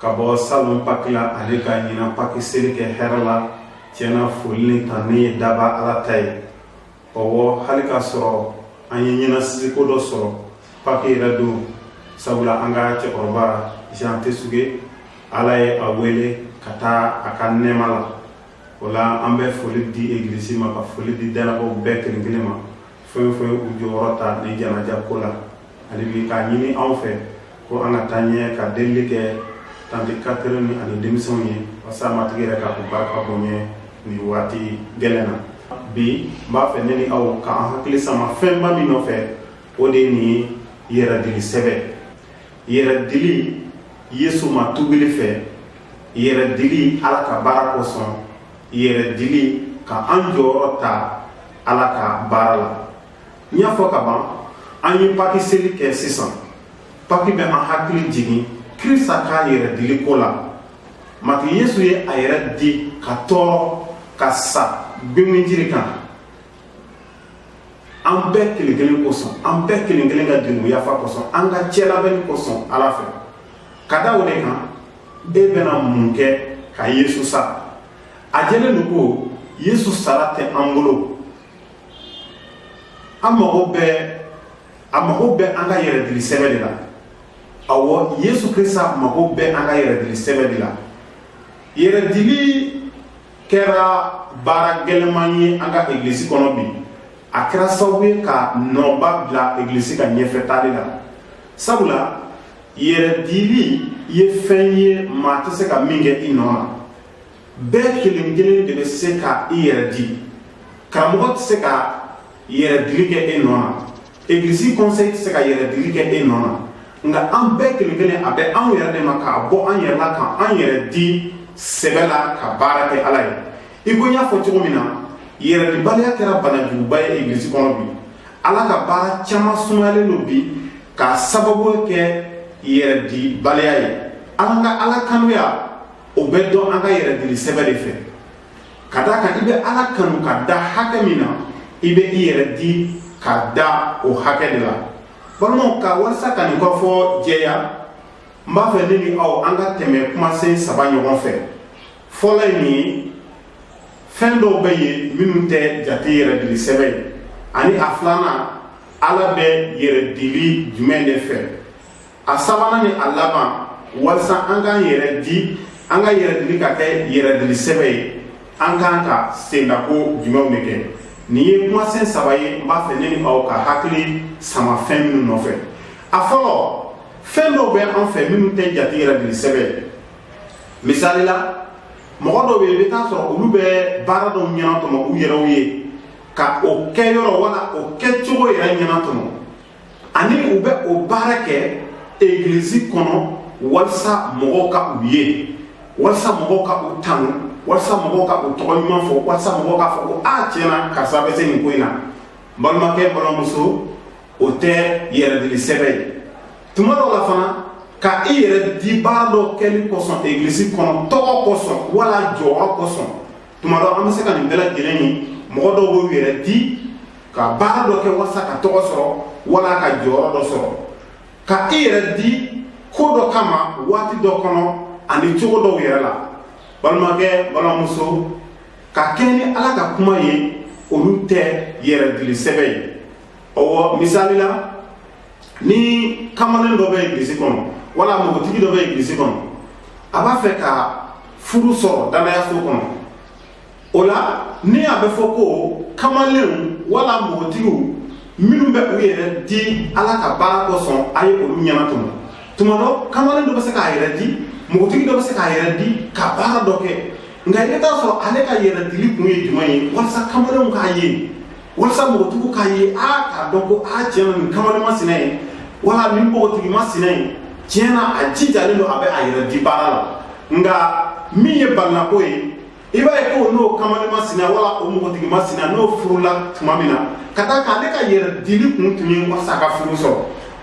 ka bɔ salon paki la ani ka ɲinan paki seli kɛ hɛrɛ la tiɲɛ na foli ni tanuni ye daba ala ta ye ɔwɔ hali k'a sɔrɔ an ye ɲɛnasisiko dɔ sɔrɔ paki yɛrɛ don sabula an ka cɛkɔrɔba jean tesuge ala ye a wele ka taa a ka nɛɛma la o la an bɛ foli di egilisi ma ka foli di danabaaw bɛɛ kelen kelen ma fɛn o fɛn y'u jɔyɔrɔ ta nin janaja ko la ale bi k'a ɲini anw fɛ ko an ka taa ɲɛ ka delili kɛ tante catherine ani denmisɛnw ye walasa matigi yɛrɛ k'a ko barika bonya nin waati gɛlɛn na bi n b'a fɛ ne ni aw k'an hakili sama fɛnba min nɔfɛ o de ye nin ye yɛrɛdili sɛbɛ yɛrɛdili yesu ma tubili fɛ yɛrɛdili ala ka baara kosɔn yɛrɛdili ka an jɔyɔrɔ ta ala ka baara la n y'a fɔ ka ban an ye paki seli kɛ sisan paki bɛ an hakili jigin krista ka yɛrɛdili ko la matigi yesu ye a yɛrɛ di ka tɔɔrɔ ka sa gwengwenjiri kan an bɛɛ kelen kelen kosɔn an bɛɛ kelen kelen ka jurumu yafa kosɔn an ka cɛlabɛnni kosɔn ala fɛ ka da o de kan e bɛna mun kɛ ka yesu sa a jɛlen don ko yesu sara tɛ an bolo an mago bɛ a mago bɛ an ka yɛrɛdili sɛbɛ de la awɔ yesu krista mago bɛ an ka yɛrɛdili sɛbɛ de la yɛrɛdili kɛra baara gɛlɛman ye an ka egilisi kɔnɔ bi a kɛra sababu ye ka nɔba bila egilisi ka ɲɛfɛtaali la sabula yɛrɛdili ye fɛn ye maa tɛ se ka min kɛ i nɔ na bɛɛ kelen kelen de bɛ se ka i yɛrɛ di karamɔgɔ tɛ se ka yɛrɛdili kɛ e nɔ na egilisi kɔnsɛyi tɛ se ka yɛrɛdili kɛ e nɔ na nka an bɛɛ kelen kelen a bɛ anw yɛrɛ de ma k'a bɔ an yɛrɛ la ka an yɛrɛ di sɛbɛ la ka baara kɛ ala ye i ko n y'a fɔ cogo min na yɛrɛdibaliya kɛra banajuguba ye egilisi kɔnɔ bi ala ka baara caman sumayalen don bi k'a sababu kɛ yɛrɛdibaliya ye an ka ala kanuya o bɛ dɔn an ka yɛrɛdili sɛbɛ de fɛ ka d'a kan i bɛ ala kanu ka dan hakɛ min na i bɛ i yɛrɛ di ka dan o hakɛ de la balimaw ka walisa ka nin kɔfɔ jɛya n b'a fɛ ne ni aw an ka tɛmɛ kumasen saba ɲɔgɔn fɛ fɔlɔ ye nin ye fɛn dɔw bɛ yen minnu tɛ jate yɛrɛdili sɛbɛ ye ani a filanan ala bɛ yɛrɛdili jumɛn de fɛ a sabanan ni a laban walisa an k'an yɛrɛ di an ka yɛrɛdili ka kɛ yɛrɛdili sɛbɛ ye an kan ka sendako jumɛnw de kɛ nin ye kumasen saba ye n b'a fɛ ne ni aw ka hakili sama fɛn minnu nɔfɛ a fɔlɔ fɛn dɔw bɛ an fɛ minnu tɛ jate yɛrɛdili sɛbɛ ye misali la mɔgɔ dɔw bɛ yen i bɛ t'a sɔrɔ olu bɛ baara dɔw ɲɛnatɔmɔ u yɛrɛw ye ka o kɛyɔrɔ wala o kɛcogo yɛrɛ ɲɛnatɔmɔ ani u bɛ o baara kɛ egilizi kɔnɔ walisa mɔgɔw ka u ye walisa mɔgɔw ka u tanu walisa mɔgɔw ka u tɔgɔ ɲuman fɔ walisa mɔgɔw k'a fɔ ko a ah, tiɲɛ na karisa bɛ se nin ko in na balimakɛ balimamuso o tɛ yɛrɛdili sɛbɛ ye tuma dɔw la fana ka i yɛrɛ di baara dɔ kɛli kosɔn egilizi kɔnɔ tɔgɔ kosɔn wala jɔyɔrɔ kosɔn tuma dɔ an bɛ se ka nin bɛɛ lajɛlen ye mɔgɔ dɔw b'u yɛrɛ di ka baara dɔ kɛ walasa ka tɔgɔ sɔrɔ wala ka jɔyɔrɔ dɔ sɔrɔ ka i yɛrɛ di ko dɔ kama waati dɔ kɔnɔ ani cogo dɔw yɛrɛ la balimakɛ balimamuso ka kɛɲɛ ni ala ka kuma ye olu tɛ yɛrɛdili sɛbɛ ye ɔwɔ misali la ni kamalen dɔ bɛ egilisi kɔnɔ wala npogotigi dɔ bɛ egilisi kɔnɔ a b'a fɛ ka furu sɔrɔ danayaso kɔnɔ o la ni a bɛ fɔ ko kamalenw wala npogotigiw minnu bɛ u yɛrɛ di ala ka baara kosɔn a ye olu ɲɛnatɔmɔ tuma dɔ kamalen dɔ bɛ se k'a yɛrɛ di npogotigi dɔ bɛ se k'a yɛrɛ di ka baara dɔ kɛ nka i bɛ t'a sɔrɔ ale ka yɛrɛdili kun ye jumɛn ye walasa kamalenw k'a ye walisa npogotigiw k'a ye a k'a dɔn ko a tiɲɛ na nin kamalen masina ye wala nin npogotigi masina ye tiɲɛ na a jijalen don a bɛ a yɛrɛ di baara la nka min ye balinako ye i b'a ye ko n'o kamalen masina wala o npogotigi masina n'o furula tuma min na ka d'a kan ale ka yɛrɛdili kun tun ye walasa a ka furu sɔrɔ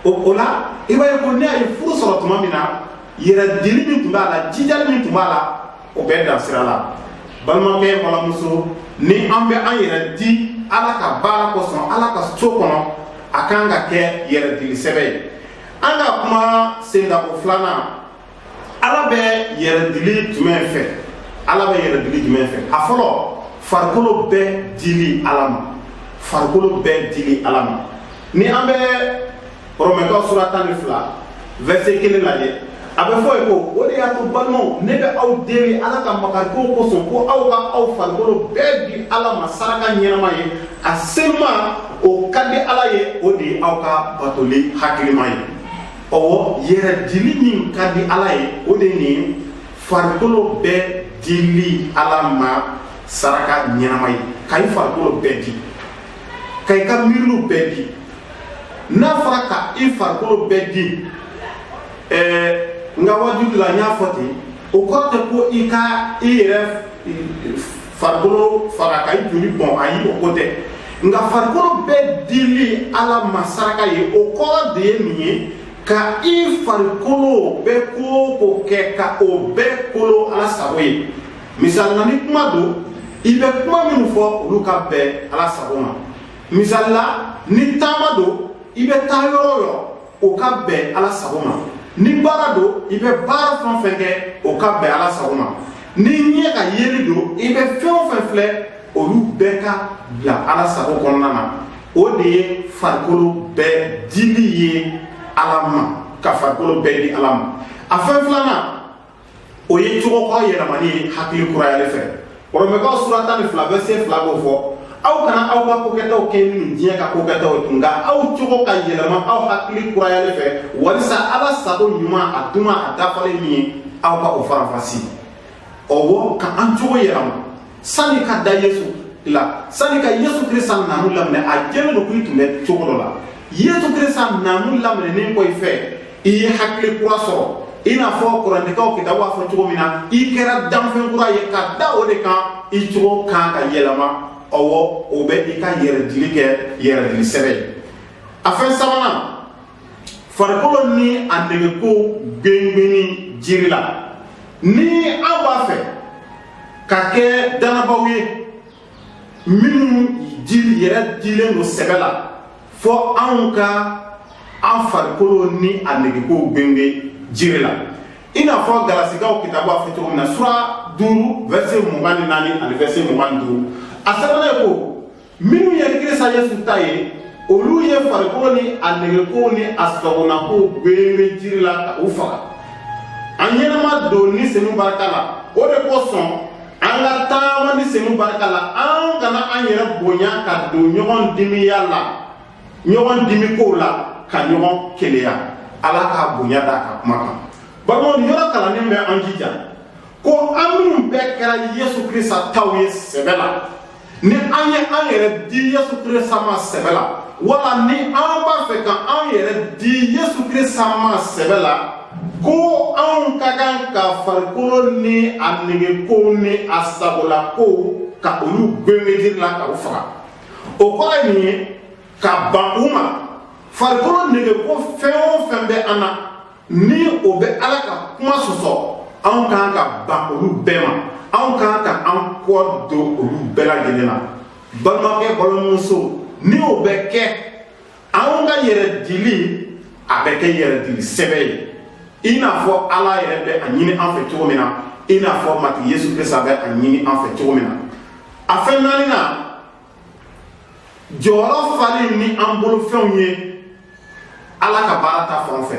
o o la i b'a ye ko ni a ye furu sɔrɔ tuma min na yɛrɛdili min tun b'a la jijali min tun b'a la o bɛ dan sira la balimakɛ balimamuso ni an bɛ an yɛrɛ di ala ka baara kosɔn ala ka so kɔnɔ a kan ka kɛ yɛrɛdili sɛbɛ ye an ka kuma sendako filanan ala bɛ yɛrɛdili jumɛn fɛ ala bɛ yɛrɛdili jumɛn fɛ a fɔlɔ farikolo bɛɛ dili ala ma farikolo bɛɛ dili ala ma ni an bɛ rɔmɛkaw sura tan ni fila vɛrise kelen lajɛ a bɛ fɔ yen ko o de y'a to balimaw ne bɛ aw deli ala ka makarikow kosɔn ko aw ka aw farikolo bɛɛ di ala ma saraka ɲɛnama ye a senuma o ka di ala ye o de ye aw ka batoli hakilima ye ɔwɔ yɛrɛdili min ka di ala ye o de nin farikolo bɛɛ dili ala ma saraka ɲɛnama ye ka i farikolo bɛɛ di ka i ka miiriw bɛɛ di n'a fɔra ka i farikolo bɛɛ di ɛɛ n ka waajuli la n y'a fɔ ten o kɔrɔ tɛ ko i ka i yɛrɛ farikolo fara ka i joli bɔn ayi o ko tɛ nka farikolo bɛɛ dili ala ma saraka ye o kɔrɔ de ye nin ye ka i farikolo bɛ ko o ko kɛ ka o bɛɛ kolo ala sago ye misali la ni kuma don i bɛ kuma minnu fɔ olu ka bɛn ala sago ma misali la ni taama don i bɛ taa yɔrɔ o yɔrɔ o ka bɛn ala sago ma ni baara don i bɛ baara fɛn o fɛn kɛ o ka bɛn ala sago ma ni ɲɛ ka yeli don i bɛ fɛn o fɛn filɛ olu bɛɛ ka bila ala sago kɔnɔna na o de ye farikolo bɛɛ dili ye ala ma ka farikolo bɛɛ di ala ma a fɛn filanan o ye cogo ka yɛlɛmani ye hakili kurayali fɛ romɛkaw sura tan ni fila vɛse fila b'o fɔ aw kana aw ka kokɛtaw kɛɲɛ ni diɲɛ ka kokɛtaw ye tun nka aw cogo ka yɛlɛma aw hakili kurayali fɛ walisa ala sago ɲuman a duman a dafalen min ye aw ka o faranfasi ɔwɔ ka an cogo yɛlɛma sani ka da yesu la sani ka yesu krista namu laminɛ a jɛlen don k'i tun bɛ cogo dɔ la yesu krista namu laminɛnen kɔfɛ i ye hakili kura sɔrɔ i n'a fɔ korɛntikaw kitabu a fɔ cogo min na i kɛra danfɛn kura ye ka da o de kan i cogo kan ka yɛlɛma ɔwɔ o bɛ i ka yɛrɛdili kɛ yɛrɛdili sɛbɛ ye a fɛn sabanan farikolo ni a negekow gengenni jiri la ni an b'a fɛ ka kɛ dannabaaw ye minnu di yɛrɛ dilen don sɛbɛ la fo an ka an farikolo ni a negekow gengen jiri la i n'a fɔ galasikaw kitabu a fɔ cogo min na sura duuru vɛse mugan ni naani ani vɛse mugan ni duuru a sɛbɛnna yen ko minnu ye krista yesu ta ye olu ye farikolo ni a negekow ni a sagonakow gengen jiri la ka u faga an ɲɛnama don ni senu barika la o de kosɔn an ka taama ni senu barika la an kana an yɛrɛ bonya ka don ɲɔgɔn dimiya la ɲɔgɔn dimikow la ka ɲɔgɔn keleya ala ka bonya d'a ka kuma kan balimaw nin yɔrɔ kalannen bɛ an jija ko an minnu bɛɛ kɛra yesu krista taw ye sɛbɛ la ni an ye an yɛrɛ di yesu krista ma sɛbɛ la wala ni an b'a fɛ ka an yɛrɛ di yesu krista ma sɛbɛ la ko an ka kan ka farikolo ni a negekow ni a sagolakow ka olu gengen jiri la ka u faga o kɔrɔ ye nin ye ka ban u ma farikolo negeko fɛn o fɛn bɛ an na ni o bɛ ala ka kuma sɔsɔ anw ka kan ka ban olu bɛɛ ma anw ka kan ka an kɔ don olu bɛɛ lajɛlen na balimakɛ balimamuso ni o bɛ kɛ anw ka yɛrɛ dili a bɛ kɛ yɛrɛ dili sɛbɛ ye i n'a fɔ ala yɛrɛ bɛ a ɲini an fɛ cogo min na i n'a fɔ matigi yesu krista bɛ a ɲini an fɛ cogo min na a fɛn naaninan jɔyɔrɔ fali ni an bolofɛnw ye ala ka baara ta fan fɛ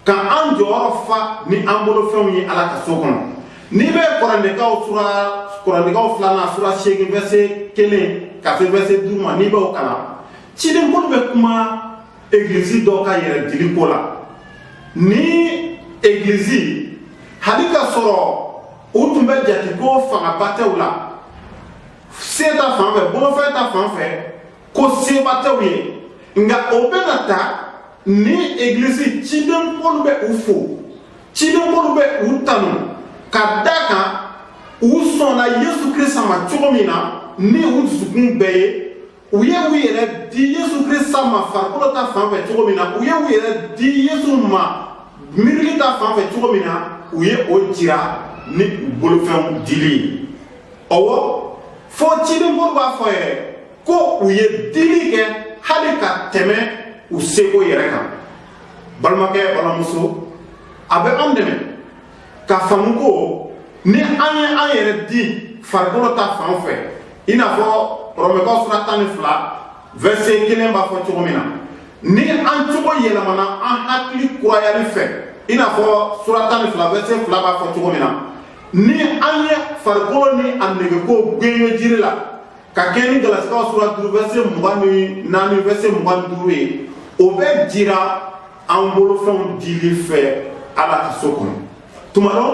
ka an jɔyɔrɔ fa ni an bolo fɛnw ye ala ka so kɔnɔ n'i bɛ kɔrɛntikaw sura kɔrɛntikaw filanan sura seegin vɛrse kelen ka se vɛrse duuru ma n'i b'o kalan ciden pɔlu bɛ kuma egilizi dɔ ka yɛrɛ dili ko la ni egilizi hali k'a sɔrɔ u tun bɛ jate ko fangaba tɛ u la se ta fan fɛ bolofɛn ta fan fɛ ko seba tɛ u ye nka o bɛɛ n'a ta ni egilisi ciden pɔlu bɛ u fo ciden pɔlu bɛ u tanu ka d'a kan u sɔnna yesu krista ma cogo min na ni u dusukun bɛɛ ye u ye u yɛrɛ di yesu krista ma farikolo ta fan fɛ cogo min na u ye u yɛrɛ di yesu ma miirili ta fan fɛ cogo min na u ye o jira ni u bolofɛnw dili ye ɔwɔ fo ciden pɔlu b'a fɔ yɛrɛ ko u ye dili kɛ hali ka tɛmɛ u seko yɛrɛ kan balimakɛ balimamuso a bɛ anw dɛmɛ ka faamu ko ni an ye an yɛrɛ di farikolo ta fan fɛ i n'a fɔ rɔmɛkaw sura tan ni fila vɛrse kelen b'a fɔ cogo min na ni an cogo yɛlɛmana an hakili kurayali fɛ i n'a fɔ sura tan ni fila vɛrse fila b'a fɔ cogo min na ni an ye farikolo ni a negekow gengen jiri la ka kɛɲɛ ni galasikaw sura duuru vɛrse mugan ni naani vɛrse mugan ni duuru ye o bɛ jira an bolofɛnw dili fɛ ala ka so kɔnɔ tuma dɔ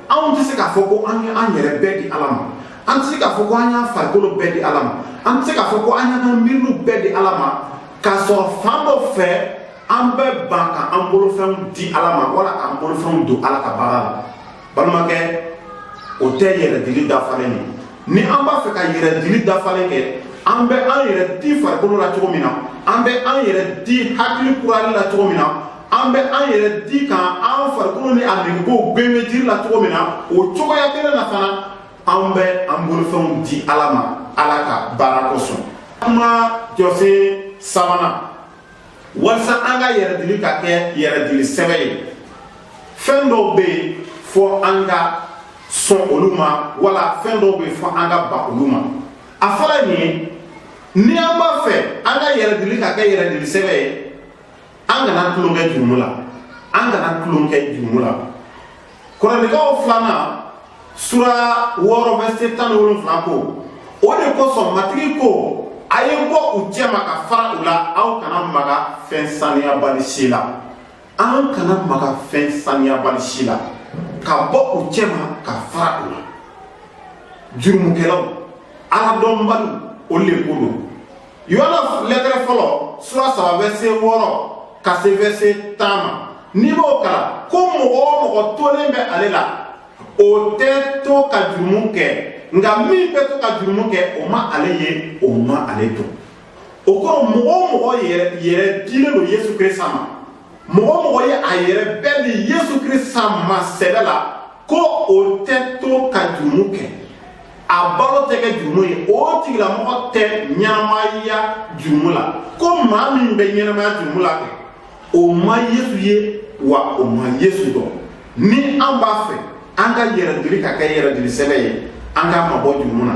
anw tɛ se k'a fɔ ko an ye an yɛrɛ bɛɛ di ala ma an tɛ se k'a fɔ ko an y'an farikolo bɛɛ di ala ma an tɛ se k'a fɔ ko an y'an miiriliw bɛɛ di ala ma k'a sɔrɔ fan dɔ fɛ an bɛ ban ka an bolofɛnw di ala ma wala k'an bolofɛnw don ala ka baara la balimakɛ o tɛ yɛrɛdili dafalen ye ni an b'a fɛ ka yɛrɛdili dafalen kɛ an bɛ an yɛrɛ di farikolo la cogo min na an bɛ an yɛrɛ di hakili kurayali la cogo min na an bɛ an yɛrɛ di ka an farikolo ni a negekow gengen jiri la cogo min na o cogoya kelen na fana an bɛ an bolofɛnw di ala ma ala ka baara kosɔn kuma jɔsen sabanan walisa an ka yɛrɛdili ka kɛ yɛrɛdili sɛbɛ ye fɛn dɔw bɛ yen fɔ an ka sɔn olu ma wala fɛn dɔw bɛ yen fɔ an ka ban olu ma a fɔra nin ye ni an b'a fɛ an ka yɛrɛdili ka kɛ yɛrɛdili sɛbɛ ye an kana tulonkɛ jurumu la an kana tulonkɛ jurumu la korɛntikaw filanan sura wɔɔrɔ vɛse tan ni wolonwula ko o de kosɔn matigi ko a ye bɔ u cɛma ka fara u la aw kana maga fɛn saniyabali si la an kana maga fɛn saniyabali si la ka bɔ u cɛma ka fara u la jurumukɛlaw aladɔnbaliw o le ko don yuhana lɛtɛrɛ fɔlɔ sura saba vɛse wɔɔrɔ ka se vɛse tan ma n'i b'o kalan ko mɔgɔ o mɔgɔ tolen bɛ ale la o tɛ to ka jurumu kɛ nka min bɛ to ka jurumu kɛ o ma ale ye o ma ale dɔn o kɔrɔ mɔgɔ o mɔgɔ yɛrɛ yɛrɛ dilen don yesu kirisita ma mɔgɔ o mɔgɔ ye a yɛrɛ bɛɛ di yesu kirisita ma sɛbɛ la ko o tɛ to ka jurumu kɛ a balo tɛ kɛ jurumu ye o tigilamɔgɔ tɛ ɲɛnamaya jurumu la ko maa min bɛ ɲɛnamaya jurumu la kɛ o ma yesu ye wa o ma yesu dɔn ni an b'a fɛ an ka yɛrɛdili ka kɛ yɛrɛdili sɛbɛ ye an k'an mabɔ jurumu na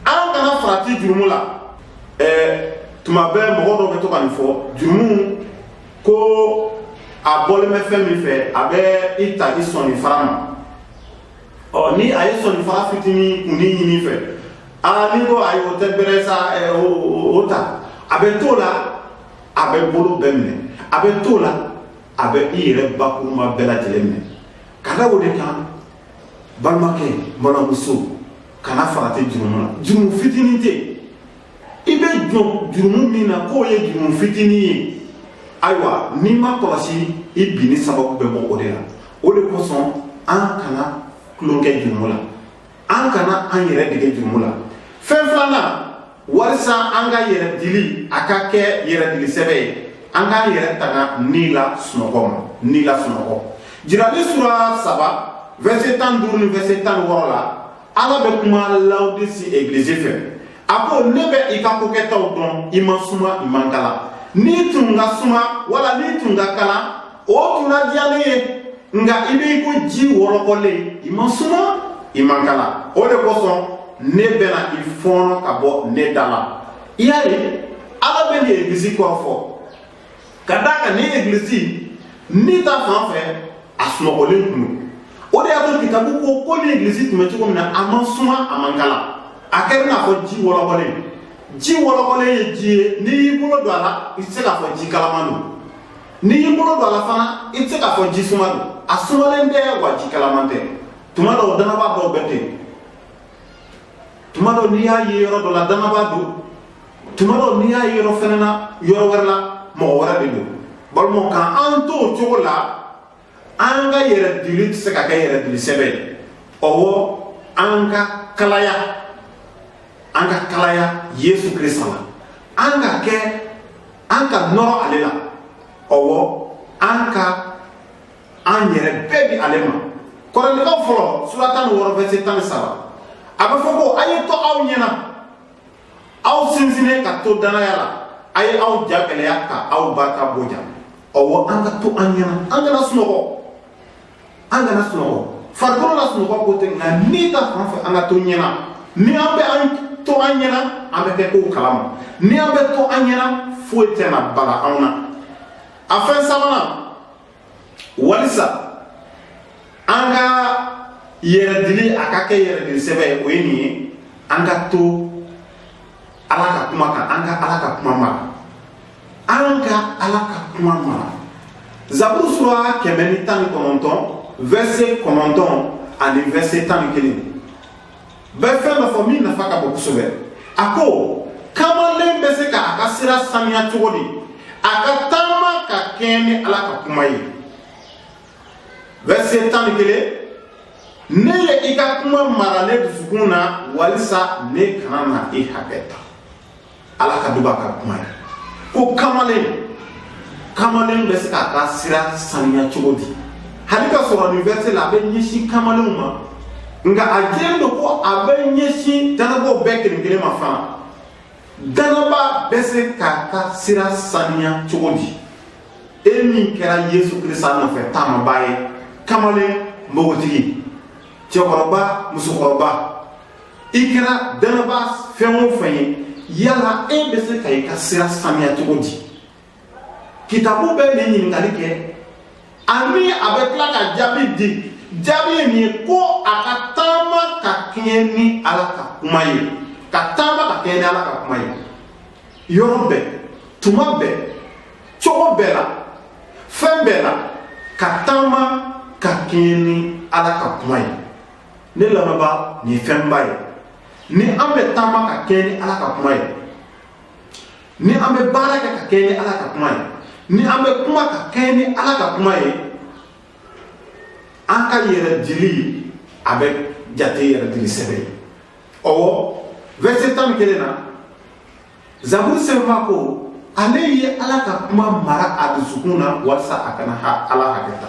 an kana farati jurumu la ɛɛ tuma bɛɛ mɔgɔ dɔ bɛ to ka nin fɔ jurumu ko a bɔlen bɛ fɛn min fɛ a bɛ i ta i sɔninfara ma ɔ ni a ye sɔninfara fitinin kunnin ɲini i fɛ aa n'i ko ayi o tɛ bɛrɛ sa ɛɛ o o ta a bɛ t'o la a bɛ bolo bɛɛ minɛ a bɛ t'o la a bɛ i yɛrɛ bakuruba bɛɛ lajɛlen minɛ ka da o de kan balimakɛ n balimamuso kana farati jurumu na jurumu fitinin tɛ i bɛ jɔn jurumu min na k'o ye jurumu fitinin ye ayiwa n'i m'a kɔlɔsi i binni sababu bɛ bɔ o de la o de kosɔn an kana tulonkɛ jurumu la an kana an yɛrɛ dege jurumu la fɛn filanan walisa an ka yɛrɛdili a ka kɛ yɛrɛdili sɛbɛ ye an k'an yɛrɛ tanga ni la sunɔgɔ ma ni la sunɔgɔ jirali sura saba vɛse tan duuru ni vɛse tan wɔɔrɔ la ala bɛ kuma lawodisi egilizi fɛ a ko ne bɛ i ka kokɛtaw dɔn i man suma i man kalan n'i tun ka suma wala n'i tun ka kalan o tun na diya ne ye nka i bɛ i ko ji wɔlɔkɔlen i ma suma i man kala o de kosɔn ne bɛna i fɔɔnɔ ka bɔ ne da la i y'a ye ala bɛ nin egilisi kɔrɔfɔ ka d'a kan nin egilisi ni ta fan fɛ a sunɔgɔlen tun don o de y'a to kitabu ko ko nin egilisi tun bɛ cogo min na a man suma a man kala a kɛra i n'a fɔ ji wɔlɔkɔlen ji wɔlɔkɔlen ye ji ye n'i y'i bolo don a la i tɛ se k'a fɔ ji kalaman don n'i y'i bolo don a la fana i tɛ se k'a fɔ ji suma don a sumalen tɛ wa ji kalaman tɛ tuma dɔw danaba dɔw bɛ ten tuma dɔw n'i y'a ye yɔrɔ dɔ la danaba don tuma dɔw n'i y'a ye yɔrɔ fana na yɔrɔ wɛrɛ la mɔgɔ wɛrɛ de don balimaw kana t'o cogo la an ka yɛrɛdili tɛ se ka kɛ yɛrɛdili sɛbɛ ye ɔwɔ an ka kalaya an ka kalaya yesu kirisa la an ka kɛ an ka nɔrɔ ale la ɔwɔ an ka an yɛrɛ bɛɛ di ale ma kɔrɛntikaw fɔlɔ sura tan ni wɔɔrɔ vɛse tan ni saba a bɛ fɔ ko a ye to aw ɲɛna aw sinsinnen ka to danaya la a ye aw ja gɛlɛya ka aw barika bonya ɔwɔ an ka to an ɲɛna an kana sunɔgɔ an kana sunɔgɔ farikolo la sunɔgɔ ko tɛ nka ni ta fan fɛ an ka to ɲɛna ni an bɛ an to an ɲɛna an bɛ kɛ kow kalama ni an bɛ to an ɲɛna foyi tɛna bala anw na a fɛn sabanan walisa an ka yɛrɛdili a ka kɛ yɛrɛdili sɛbɛ ye o ye nin ye an ka to ala ka kuma kan an ka ala ka kuma mara an ka ala ka kuma mara zaburu sura kɛmɛ ni tan ni kɔnɔntɔn vɛse kɔnɔntɔn ani vɛse tan ni kelen bɛ fɛn dɔ fɔ min nafa ka bon kosɛbɛ a ko kamalen bɛ se k'a ka sira saniya cogo di a ka taama ka kɛɲɛ ni ala ka kuma ye verset tan ni kelen ne ye i ka kuma mara ne dusukun na walisa ne kana na i hakɛ ta ala ka duba a ka kuma ye ko kamalen kamalen bɛ se k'a ka sira saniya cogo di hali ka sɔrɔ nin verse la a bɛ ɲɛsin kamalenw ma nka a jɛlen don ko a bɛ ɲɛsin dannabaw bɛɛ kelen kelen ma fana dannaba bɛ se k'a ka sira saniya cogo di e min kɛra yesu kirisa nɔfɛ taamaba ye kamalen npogotigi cɛkɔrɔba musokɔrɔba i kɛra dannabaa fɛn o fɛn ye yala e bɛ se ka i ka sira saniya cogo di kitabu bɛ nin ɲininkali kɛ ani a bɛ tila ka jaabi di jaabi ye nin ye ko a ka taama ka kɛɲɛ ni ala ka kuma ye ka taama ka kɛɲɛ ni ala ka kuma ye yɔrɔ bɛɛ tuma bɛɛ cogo bɛɛ la fɛn bɛɛ la ka taama ka kɛɲɛ ni ala ka kuma ye ne lamɛnbaa nin ye fɛnba ye ni an bɛ taama ka kɛɲɛ ni ala ka kuma ye ni an bɛ baara kɛ ka kɛɲɛ ni ala ka kuma ye ni an bɛ kuma ka kɛɲɛ ni ala ka kuma ye an ka yɛrɛ dili a bɛ jate yɛrɛ dili sɛbɛ ye ɔwɔ vɛrise tan ni kelen na Zaburu sɛbɛnbaa ko ale ye Ala ka kuma mara a dusukun na walasa a kana Ala hakɛ ta.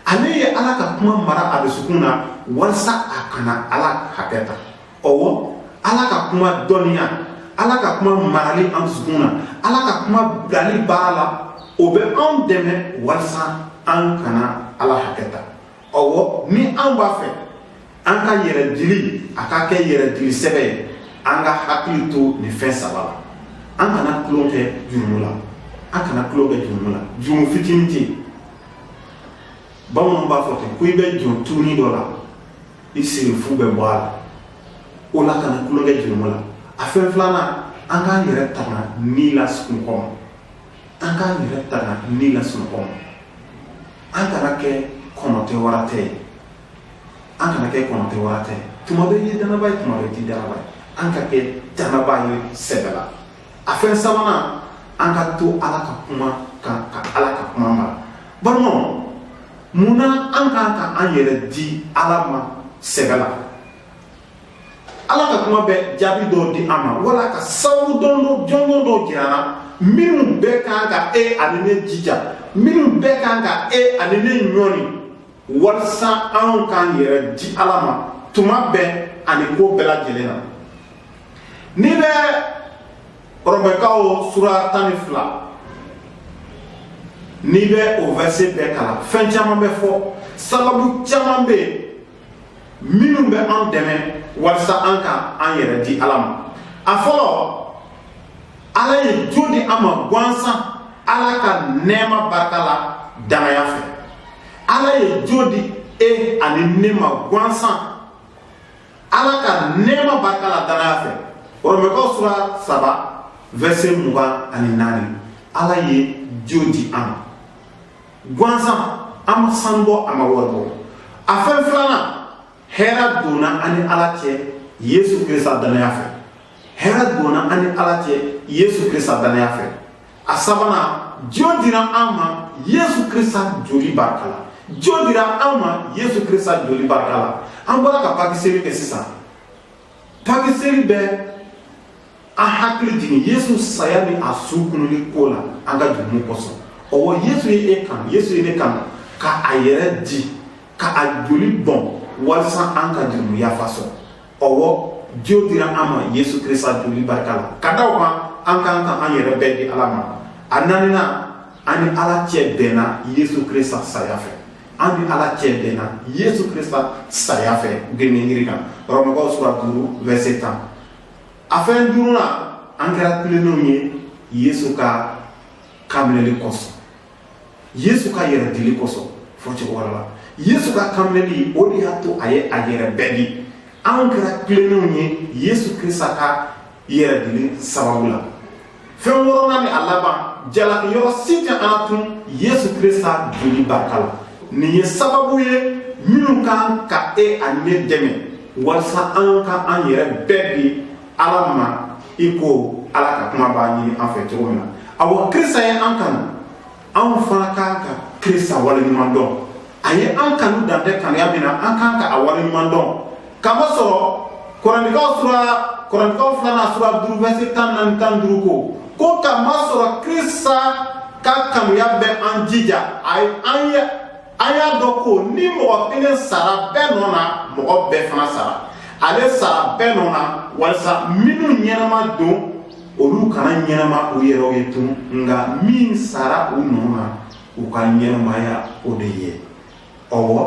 Ale ye Ala ka kuma mara a dusukun na walasa a kana Ala hakɛ ta. Ɔwɔ Ala ka kuma dɔnniya, Ala ka kuma marali an dusukun na, Ala ka kuma bilali baara la, o bɛ anw dɛmɛ walasa an kana Ala hakɛ ta. ɔwɔ ni an b'a fɛ an ka yɛrɛ dili a ka kɛ yɛrɛ dili sɛbɛ ye an ka hakili to nin fɛn saba la an kana tulon kɛ jurumu la an kana tulon kɛ jurumu la jurumu fitinin tɛ yen bamananw b'a fɔ ten ko i bɛ jɔn tunin dɔ la i sirifu bɛ bɔ a la o la kana tulon kɛ jurumu la a fɛn filanan an k'an yɛrɛ tanga ni la sunɔgɔ ma an k'an yɛrɛ tanga ni la sunɔgɔ ma an kana kɛ kɔnɔ tɛ wara tɛ ye an kana kɛ kɔnɔ tɛ wara tɛ ye tuma bɛ i ye dannabaa ye tuma bɛ i tɛ dannabaa ye an ka kɛ dannabaa ye sɛbɛ la a fɛn sabanan an ka to ala ka kuma kan ka ala ka kuma mara balimaw mun na an kan ka an yɛrɛ di ala ma sɛbɛ la ala ka kuma bɛ jaabi dɔw di an ma wala ka sababu dɔndɔn jɔnjɔn dɔw jira an na minnu bɛɛ kan ka e ani ne jija minnu bɛɛ kan ka e ani ne ɲɔni walisa anw k'an yɛrɛ di ala ma tuma bɛɛ ani ko bɛɛ lajɛlen na n'i bɛ rɔmɛkaw sura tan ni fila n'i bɛ o vɛrise bɛɛ kalan fɛn caman bɛ fɔ sababu caman bɛ yen minnu bɛ an dɛmɛ walisa an ka an yɛrɛ di ala ma a fɔlɔ ala ye jo di an ma gansan ala ka nɛɛma barika la dannaya fɛ ala ye jo di e ani ne ma gansan ala ka nɛɛma barika la dannaya fɛ rɔmɛkaw sura saba vɛrise mugan ani naani ala ye jo di an ma gansan an ma sanu bɔ an ma wari bɔ a fɛn filanan hɛrɛ donna an ni ala cɛ yesu krista dannaya fɛ hɛrɛ donna an ni ala cɛ yesu krista dannaya fɛ a sabanan jo dira an ma yesu krista joli barika la jo dira an ma yesu krista joli barika la an bɔra ka pakiseli kɛ sisan Pakiseli bɛ an hakili jigin Yesu saya ni a su kununni ko la an ka jurumu kosɔn. Ɔwɔ Yesu ye e kanu, Yesu ye ne kanu ka a yɛrɛ di, ka a joli bɔn walisa an ka jurumu yafa sɔrɔ. Ɔwɔ jo dira an ma Yesu Krista joli barika la. Ka da o kan, an ka kan ka an yɛrɛ bɛɛ di Ala ma. A naaninan, an ni Ala cɛ bɛnna Yesu Krista saya fɛ. an ni ala cɛ bɛnna yesu krista saya fɛ gengenjiri kan rɔmukaw sura duuru vɛrse tan a fɛn duurunan an kɛra tilennenw ye yesu ka kanminɛli kosɔn yesu ka yɛrɛdili kosɔn fɔcogo wɛrɛ la yesu ka kanminɛli o de y'a to a ye a yɛrɛ bɛɛ di anw kɛra tilennenw ye yesu krista ka yɛrɛdili sababu la fɛn wɔɔrɔnan ni a laban jalaki yɔrɔ si tɛ an tun yesu krista joli barika la nin ye sababu ye minnu ka kan ka e ani ne dɛmɛ walisa an ka an yɛrɛ bɛɛ di ala ma i ko ala ka kuma b'a ɲini an fɛ cogo min na awa krista ye an kanu anw fana ka kan ka krista waleɲuman dɔn a ye an kanu dan tɛ kanuya min na an ka kan ka a waleɲuman dɔn k'a masɔrɔ korɛntikaw sura korɛntikaw filanan sura duuru vɛrse tan naani tan duuru ko ko k'a masɔrɔ krista ka kanuya bɛ an jija a ye an ye an y'a dɔn ko ni mɔgɔ kelen sara bɛɛ nɔ na mɔgɔ bɛɛ fana sara ale sara bɛɛ nɔ na walisa minnu ɲɛnama don olu kana ɲɛnama u yɛrɛw ye tun nka min sara u nɔ na u ka ɲɛnamaya o de ye ɔwɔ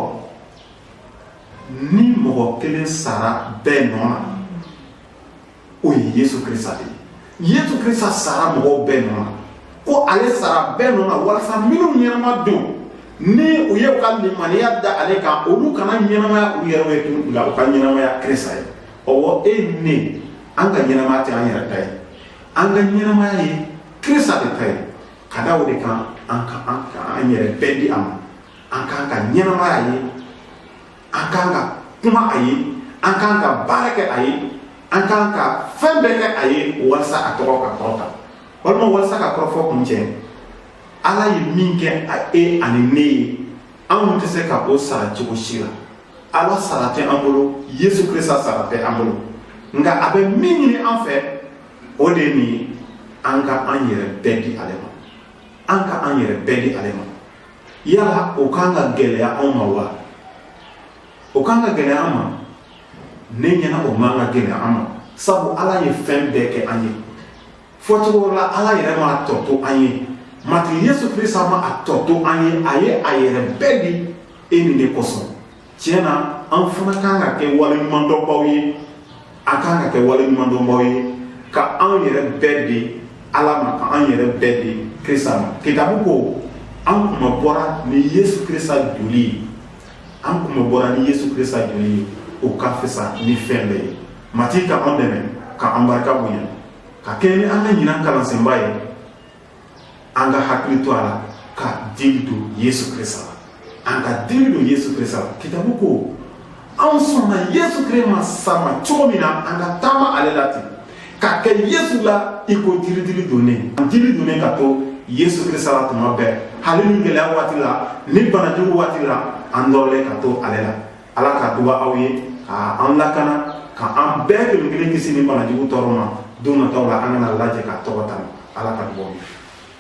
ni mɔgɔ kelen sara bɛɛ nɔ na o ye yesu krista de ye yesu krista sara mɔgɔw bɛɛ nɔ na ko ale sara bɛɛ nɔ na walisa minnu ɲɛnama don ni u ye u ka limaniya da ale kan olu kana ɲɛnamaya u yɛrɛw ye tun nka u ka ɲɛnamaya krista ye ɔwɔ e ni ne an ka ɲɛnamaya tɛ an yɛrɛ ta ye an ka ɲɛnamaya ye krista de ta ye ka da o de kan an ka kan ka an yɛrɛ bɛɛ di a ma an ka kan ka ɲɛnamaya a ye an ka kan ka kuma a ye an ka kan ka baara kɛ a ye an ka kan ka fɛn bɛɛ kɛ a ye walisa a tɔgɔ ka kɔrɔta walima walisa ka kɔrɔfɔ kuncɛ ala ye min kɛ a e ani ne ye anw tɛ se ka o sara cogo si la ala sara tɛ an bolo yesu krista sara tɛ an bolo nka a bɛ min ɲini an fɛ o de ye nin ye an ka an yɛrɛ bɛɛ di ale ma an ka an yɛrɛ bɛɛ di ale ma yala o kan ka gɛlɛya anw ma wa o kan ka gɛlɛya an ma ne ɲɛna o man ka gɛlɛya an ma sabu ala ye fɛn bɛɛ kɛ an ye fɔ cogo la ala yɛrɛ ma a tɔ to an ye matigi yesu krista ma a tɔ to an ye a ye a yɛrɛ bɛɛ di e ni ne kosɔn tiɲɛ na an fana kan ka kɛ waleɲumandɔnbaw ye an kan ka kɛ waleɲumandɔnbaw ye ka an yɛrɛ bɛɛ di ala ma ka an yɛrɛ bɛɛ di krista ma kitabu ko an kunmabɔra ni yesu krista joli ye an kunmabɔra ni yesu krista joli ye o ka fisa ni fɛn bɛɛ ye matigi ka an dɛmɛ ka an barika bonya ka kɛɲɛ ni an ka ɲinan kalansenba ye an ka hakili to a la ka dili don yesu krista la an ka dili don yesu krista la kitabu ko anw sɔnna yesu krista ma sama cogo min na an ka taama ale la ten ka kɛ yesu la i ko jiri dili donnen an dili donnen ka to yesu krista la tuma bɛɛ hali ni gɛlɛya waati la ni banajugu waati la an nɔrɔlen ka to ale la ala ka duba aw ye ka an lakana ka an bɛɛ kelen kelen kisi nin banajugu tɔɔrɔ ma don nataw la an ka na lajɛ ka a tɔgɔ tanu ala ka duba aw ye